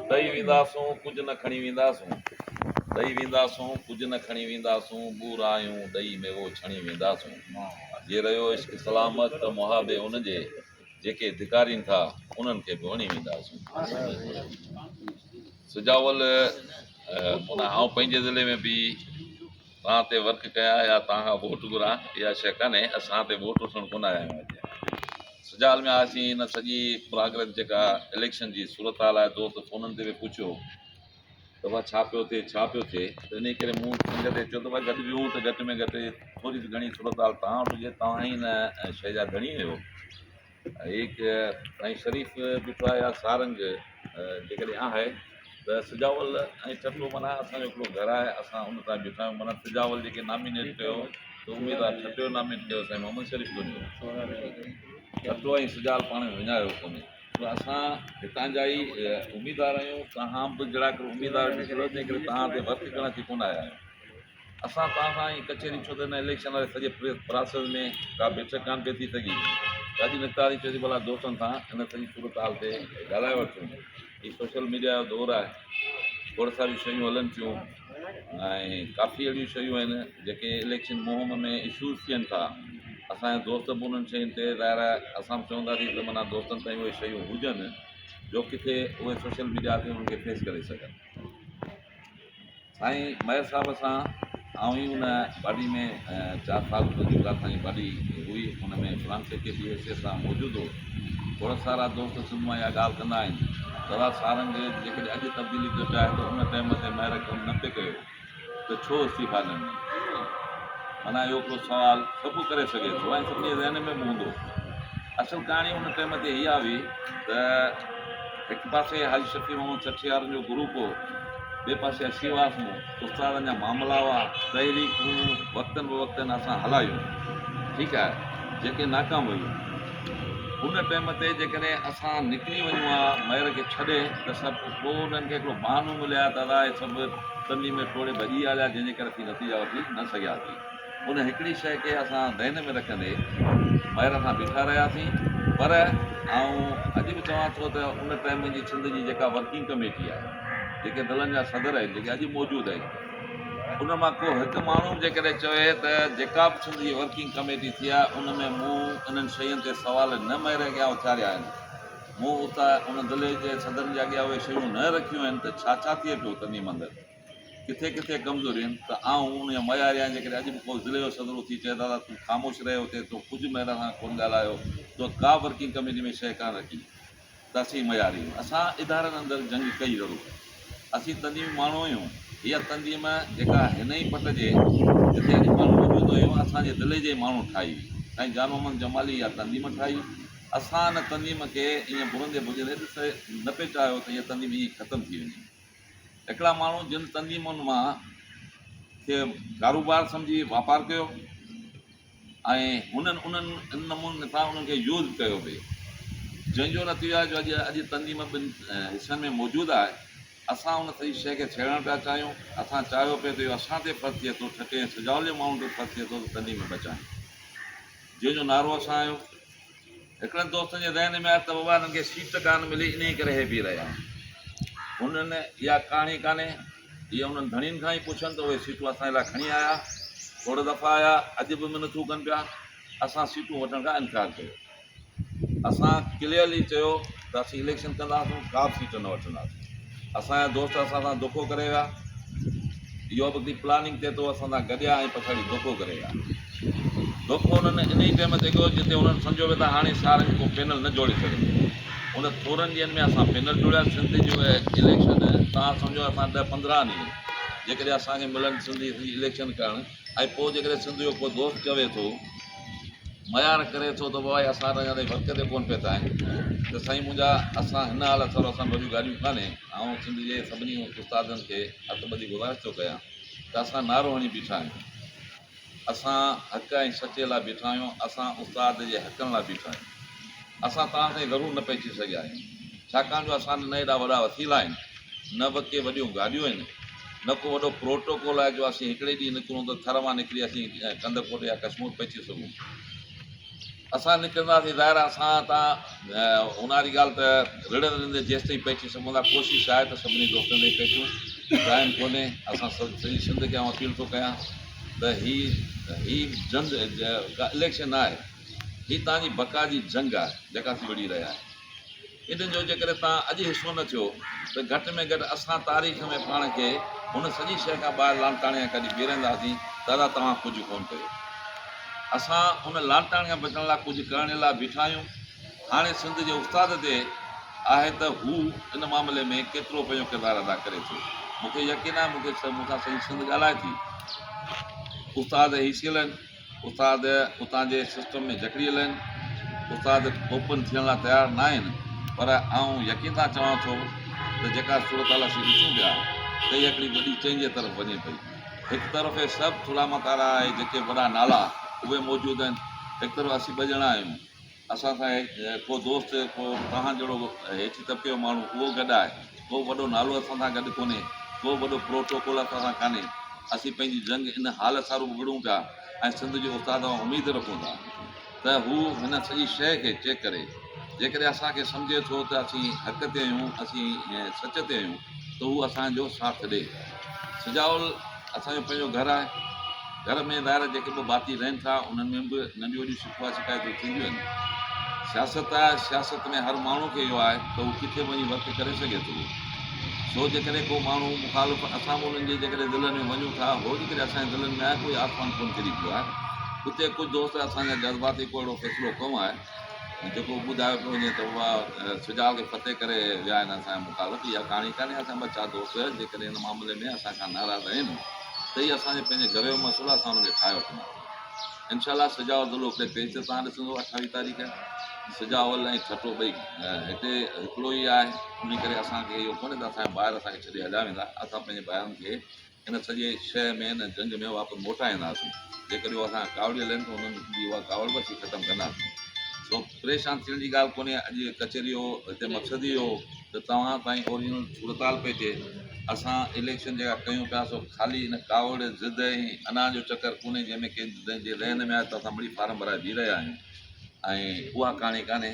ڏئي وينداسون ڪجهه نه کڻي وينداسون ڏئي وينداسون ڪجهه نه کڻي وينداسون ٻورايون ڏئي ميوو ڇڻي وينداسون جي رهيو عشق سلامت ته محابي ان جي جيڪي ڌڪارين ٿا انهن کي به وڻي وينداسون سجاول منا آئون پنهنجي ضلعي ۾ به توهان تي ورڪ ڪيان يا توهان کان ووٽ گهران اها شيء ڪانهي اسان تي ووٽ وٺڻ ڪونه آيا آهيون اڄ سجال ۾ آياسين هن سڄي پراگرس جيڪا اليڪشن جي صورتحال آهي دوست فونن تي به پڇيو ته بابا ڇا پيو ٿئي ڇا پيو ٿئي ته انهي ڪري مون سنگت کي چيو ته بابا گڏ ويهون ته گهٽ ۾ گهٽ ٿوري گهڻي صورتحال توهان وٽ هجي توهان ئي هن شيء جا ڌڻي آهيو هيڪ ۽ شريف بيٺو آهي يا سارنگ جيڪڏهن آهي ته سجاول ۽ ٺٽو معنيٰ اسان جو هڪڙو گهر آهي اسان ان تان بيٺا آهيون معنيٰ سجاول جيڪي نامينيٽ ڪيو ته اميد آهي ٺٽو نامينيٽ ڪيو سائين محمد شريف ڪونهي ٺٽو ۽ سجاول پاڻ ۾ وڃايو ڪونهي ته اسان هتان جا ئي اميدوار آهيون توهان به جهڙا ڪر اميدوار تنهن ڪري توهان تي ورڪ ڪرڻ اچي ڪونه آيا آهيون اسان توهان سان اهي ڪچهريون ڇو ته هن اليڪشن واري سڄي پراسيس ۾ ڪا بيٺڪ ڪانه پئي ٿي سگهي. راجو نقطاري چيو ته ڀلا دوستن سان هن سڄي صورتحال تي ڳالهائي وٺون. هي سوشل ميڊيا جو دور آهي. کوڙ ساريون شيون هلن ٿيون ۽ ڪافي اهڙيون شيون آهن جيڪي اليڪشن مهم ۾ اشوز ٿين ٿا. اسان جا دوست به انهن شين تي ظاهر آهي اسان به چونداسين ته منا دوستن تائين اهي شيون هجن جو ڪٿي اهي سوشل ميڊيا تي انهن کي فيس ڪري سگهن. سائين مير صاحب سان آئون ئي ان باڊي ۾ چار سال منهنجي پرارٿائي باڊي هئي ان ۾ فرانس سيڪريٽري جي حيثيت سان موجود هو ٿورا سارا دوست سنڌ مان اها ڳالهه ڪندا آهن دادا سارنگ جيڪڏهن اڄ تبديلي ٿو چاهي ته ان ٽائيم تي مير ڪم نه پئي ڪيو ته ڇو استعيفا نه ڏني معنيٰ اهو ڪو سوال سڀ ڪري سگهي ٿو ۽ سڀني جي ذهن ۾ به هوندو اصل ڪهاڻي ان ٽيم تي اها هئي ته هڪ پاسي حاجي شفيع محمد ڇٺيارن جو گروپ هو ٻئي پاسي اسين هئاسون استادن جا معاملا هئا تحريڪون وقتن بوقتن اسان هلايون ٺيڪ آهي جيڪي ناڪام ويون ان ٽيم تي جيڪڏهن اسان نڪري وڃون ها مير کي ڇڏي ته سڀ پوء انهن کي هڪڙو بهانو ملي ها ته ادا هي سڀ تنهنجي ۾ ٽوڙي ڀڄي آيا جنهن جي ڪري اسين نتيجا وٺي نه سگهياسين ان هڪڙي شيء کي اسان ذهن ۾ رکندي مهر سان بيٺا رهياسين پر آئون اڄ به چوان ٿو ته ان ٽائيم جي سنڌ جي جيڪا ورڪنگ ڪميٽي آهي جيڪي دلن جا صدر آهن جيڪي اڄ موجود آهن ان مان ڪو هڪ ماڻهو جيڪڏهن چوي ته جيڪا به سنڌ جي ورڪنگ ڪميٽي ٿي آهي ان ۾ مون انهن شين تي سوال نه مهر اڳيان اٿاريا آهن مون اتان ان دلي جي صدرن جي اڳيان اهي شيون نه رکيون آهن ته ڇا ڇا ٿئي پيو تنظيم اندر. ڪٿي ڪٿي ڪمزوري آهن ته آئون ان جو معياري آهيان جيڪڏهن اڄ به ڪو ضلعي جو صدر اٿي چئي دادا تون خاموش رهي اتي تو ڪجهه مهر سان ڪونه ڳالهايو تو ڪا ورڪنگ ڪميٽي ۾ شيء ڪانه رکي ته اسين معياري آهيون اسان ادارن اندر جنگ ڪئي ضرور اسين تنظيمي ماڻهو آهيون هيء تنظيم جيڪا هن ئي پٽ جي جتي اڄ پاڻ موجود نه هيون اسان جي ضلعي جي ماڻهو ٺاهي هئي سائين جان محمد جمالي اها تنظيم ٺاهي اسان ان تنظيم کي ائين ڀرندي ڀڄندي ڏسي نه پئي چاهيو ته هيء تنظيم ائين ختم ٿي وڃي هڪڙا ماڻهو جن تنظيمن مان کي ڪاروبار سمجهي واپار ڪيو ۽ هن ان نموني سان انهن کي يوز ڪيو به جنهن جو نتيجو آهي جو اڄ اڄ تنظيم ٻن حصن ۾ موجود آهي اسان ان سڄي شيء کي ڇيڙڻ پيا چاهيون اسان چاهيو پئي ٿو اهو اسان تي فرض ٿئي ٿو ٺٽي ۽ سجاول جي ماڻهن تي فرض ٿئي ٿو ته تنظيم بچائين جنهن جو نعرو اسان آهيو هڪڙن دوستن جي ذهن ۾ آيو ته بابا هنن کي سيٽ ڪانه ملي انهيء ڪري هي بيهي رهيا آهن. هنن اها ڪهاڻي ڪانهي. اهي انهن ڌڻين کان ئي پڇن ته اهي سيٽون اسان جي لاء کڻي آيا. کوڙ دفعا آيا اڄ به منٿون ڪن پيا. اسان سيٽون وٺڻ کان انڪار ڪيو. اسان ڪليئرلي چيو. ته اسين اليڪشن ڪنداسون ڪا به سيٽ نه وٺنداسين اسان جا دوست اسان سان دوکو ڪري ويا اهو به هڪڙي پلاننگ تحت هو اسان سان گڏيا ۽ پڇاڙي دوکو ڪري ويا دوکو هنن ان ئي ٽائيم تي ڪيو جتي هنن سمجهيو ويو ته هاڻي سارن جو ڪو پينل نه جوڙي سگهندو ان ٿورن ڏينهن ۾ اسان پينل جوڙيا سنڌ جو اليڪشن تان سمجهو اسان ڏهه پندرهن ڏينهن جيڪڏهن اسان کي ملن سنڌ جي اليڪشن ڪرڻ ۽ پوء جيڪڏهن سنڌ جو ڪو دوست چوي ٿو، ميار ڪري ٿو ته بابا اسان ته اڃا تائين ورڪ تي ڪونه پهتا آهن ته سائين منهنجا اسان هن حالت سان اسان وڏيون ڳالهيون ڪانهي آئون سنڌ جي سڀني استادن کي هٿ ٻڌي گذارش ٿو ڪيان ته اسان نعرو هڻي بيٺا آهيون اسان حق ۽ سچي لاء بيٺا آهيون اسان استاد جي حقن لاء بيٺا آهيون اسان توهان تائين ضرور نه پهچي سگهيا آهيون ڇاڪاڻ جو اسان نه ايڏا وڏا وسيلا آهن نه به ڪي وڏيون گاڏيون آهن نه ڪو وڏو پروٽوڪول آهي جو اسين هڪڙي ڏينهن نڪرون ته ٿر مان نڪري اسين ڪنڌڪوٽ يا ڪشمور پهچي سگهون اسان نڪرنداسين ظاهر آهي اسان تان اونهاري ڳالهه ته رڙ رڙندي جيس تائين پهچي سگهون ٿا ڪوشش آهي ته سڀني دوستن تائين پهچون ٽائم کولي اسان سڄي سنڌ کي آئون اپيل ٿو ڪيان ته هي هي جنگ الیڪشن نه آهي هي تان جي بقا جي جنگ آهي جيڪا اسين وڙهي رهيا آهيون ان جو جيڪڏهن توهان اڄ حصو نه ٿيو ته گهٽ ۾ گهٽ اسان تاريخ ۾ پاڻ کي هن سڄي شيء کان ٻاهر لاڻڪاڻي کان ڪڍي بيهرنداسين ته ادا توهان ڪجهه ڪونه ڪيو. اسان ان لاڻڪاڻي کان بچڻ لاء ڪجهه ڪرڻ لاء بيٺا آهيون. هاڻي سنڌ جي استاد تي آهي ته هو ان معاملي ۾ ڪيترو پنهنجو ڪردار ادا ڪري ٿو. مون کي يقين آهي مون کي مون سان سڄي سنڌ ڳالهائي ٿي. استاد هي سيلن. استاد اتان جي سسٽم ۾ جڪڙيل آهن. استاد اوپن ٿيڻ لاء تيار ناهن پر آئون يقين سان چوان ٿو ته جيڪا صورتحال اسين ڏسون پيا ته اها هڪڙي وڏي چينج جي طرف وڃي پئي. هڪ طرف اهي سڀ ٿلها متارا آهي جيڪي وڏا نالا اهي موجود آهن هڪ طرف اسين ٻه ڄڻا آهيون. اسان سان هيٺ ڪو دوست، ڪو توهان جهڙو هيٺين طبقي جو ماڻهو اهو گڏ آهي. ڪو وڏو نالو اسان سان گڏ ڪونهي، ڪو وڏو پروٽوڪول اسان سان ڪانهي. اسين پنهنجي جنگ ان حال سارو وڙهون پيا ۽ سنڌ جي استاد کان اميد رکون ٿا ته هو هن سڄي شيء کي چيڪ ڪري. جيڪڏهن اسان کي سمجهي ٿو ته اسين حق تي آهيون، اسين سچ تي آهيون ته هو اسان جو ساٿ ڏي. سجاول. اسان جو پنهنجو گهر آهي، گهر ۾ ٻاهر جيڪي به ڀاتي رهن ٿا، انهن ۾ به ننڍيون وڏيون شڪويٰ شڪايتون ٿينديون آهن. سياست آهي، سياست ۾ هر ماڻهو کي اهو آهي ته هو ڪٿي به وڃي ورڪ ڪري سگهي ٿو. سو جيڪڏهن ڪو ماڻهو مخالف اسان به انهن جي جيڪڏهن دلن ۾ وڃون ٿا، هو جيڪڏهن اسان جي دلن ۾ آهي ڪوئي آسمان ڪونه ڪري پيو آهي. اتي ڪجهه دوست اسان جا جذباتي ڪو اهڙو فيصلو ڪئون آهي. جيڪو ٻڌايو پيو وڃي ته اها سجال کي فتح ڪري ويا آهن اسان جا مخالف اها ڪهاڻي ڪانهي اسان جا ٻه چار دوست جيڪڏهن هن معاملي ۾ اسان کان ناراض آهن ته هي اسان جي پنهنجي گهر جو مسئلو اسان هن کي ٺاهي وٺنداسين انشاء الله سجاء ضلعو ڪي پي سي تان ڏسندو اٺاويھ تاريخ سجاء ول ۽ ٺٽو ٻئي هتي هڪڙو ئي آهي ان ڪري اسانکي اهو ڪونهي ته اسان جا ٻاهر اسانکي ڇڏي هليا ويندا اسان پنهنجي ٻاهرن کي ان سڄي شيء ۾ ان جنگ ۾ واپس موٽان اينداسين، جيڪڏهن هو اسان کان ڪاوڙيل آهن ته انهن جي اها ڪاوڙ به اسين ختم ڪنداسين. سو پريشان ٿيڻ جي ڳالهه ڪونهي، اڄ جي ڪچهري جو هتي مقصد ئي اهو هو ته توهان تائين اوريجنل صورتحال پهچي. اسان اليڪشن جيڪا ڪيون پيا سو خالي ان ڪاوڙ، ضد ۽ انا جو چڪر ڪونهي جنهن ۾ ڪنهن جي ذهن ۾ آيو ته اسان مڙئي فارم ڀرائي بيهي رهيا آهيون ۽ اها ڪهاڻي ڪانهي.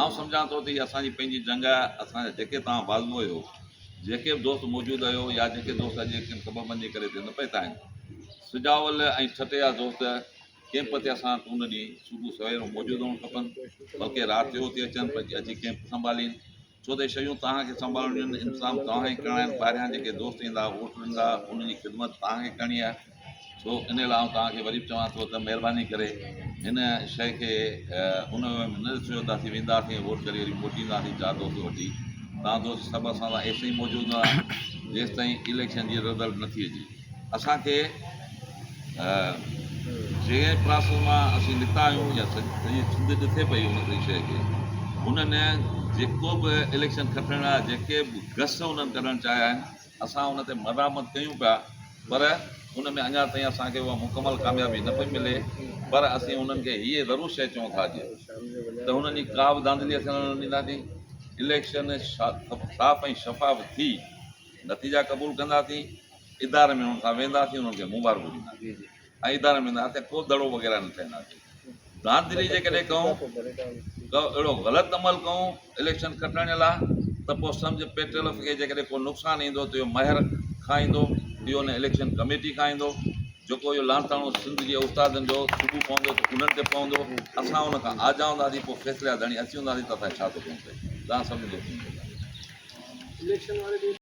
آئون سمجهان ٿو ته هيء اسان جي پنهنجي جنگ آهي، اسان جا جيڪي توهان بازو آهيو، جيڪي به دوست موجود آهيو يا جيڪي دوست اڄ جي ڪن سببن جي ڪري هتي نه پهتا آهن، سجاول ۽ ٺٽي جا دوست ڪيمپ تي اسان وٽ ان ڏينهن صبح سوير موجود هئڻ کپن، بلڪه رات جو اتي اچن، پر جي اچي ڪيمپ سنڀالين. ڇو ته شيون توهان کي سنڀالڻيون آهن، انتظام توهان کي ڪرڻا آهن، ٻاهريان جيڪي دوست ايندا، ووٽ ڏيندا، انهن جي خدمت توهان کي ڪرڻي آهي، سو ان لاء آئون توهان کي وري به چوان ٿو ته مهرباني ڪري هن شيء کي ان وي ۾ نه ڏسجو ته اسين وينداسين ۽ ووٽ ڪري وري موٽي اينداسين چار دوست وٺي، توهان دوست سڀ اسان سان ايسين ئي موجود رهندا جيستائين اليڪشن جي رزلٽ نه ٿي اچي. اسان کي جنهن پراسس مان اسين نڪتا آهيون يا سڄي سنڌ ڏسي پئي ان سڄي شيء کي انهن جيڪو به اليڪشن کٽڻ لاء جيڪي به گس انهن ڪڍڻ چاهيا آهن اسان ان تي مذامت ڪيون پيا پر ان ۾ اڃا تائين اسان کي اها مڪمل ڪاميابي نه پئي ملي پر اسين انهن کي هيء ضرور شيء چئون ٿا جي ته هنن جي ڪا به ڌانڌلي اسين نه ڏينداسين اليڪشن صاف ۽ شفاف ٿي نتيجا قبول ڪنداسين ادارن ۾ هن سان وينداسين انهن کي مبارڪون ڏينداسين ۽ ادارن ۾ وينداسين ڪو دڙو وغيره نه ٺهنداسين دانتدري جيڪڏهن ڪئون ڪو اهڙو غلط عمل ڪئون اليڪشن کٽڻ لاء ته پوء سمجهه پي ٽي ايل کي جيڪڏهن ڪو نقصان ايندو ته اهو مهر کان ايندو اهو ان اليڪشن ڪميٽي کان ايندو جيڪو اهو لانتاڻو سنڌ جي استادن جو صبح پوندو ته انهن تي پوندو اسان ان کان آجا هونداسين پوء فيصلي جا ڌڻي اسين هونداسين ته اسان کي ڇا ٿو ڪم پئي تان سمجهه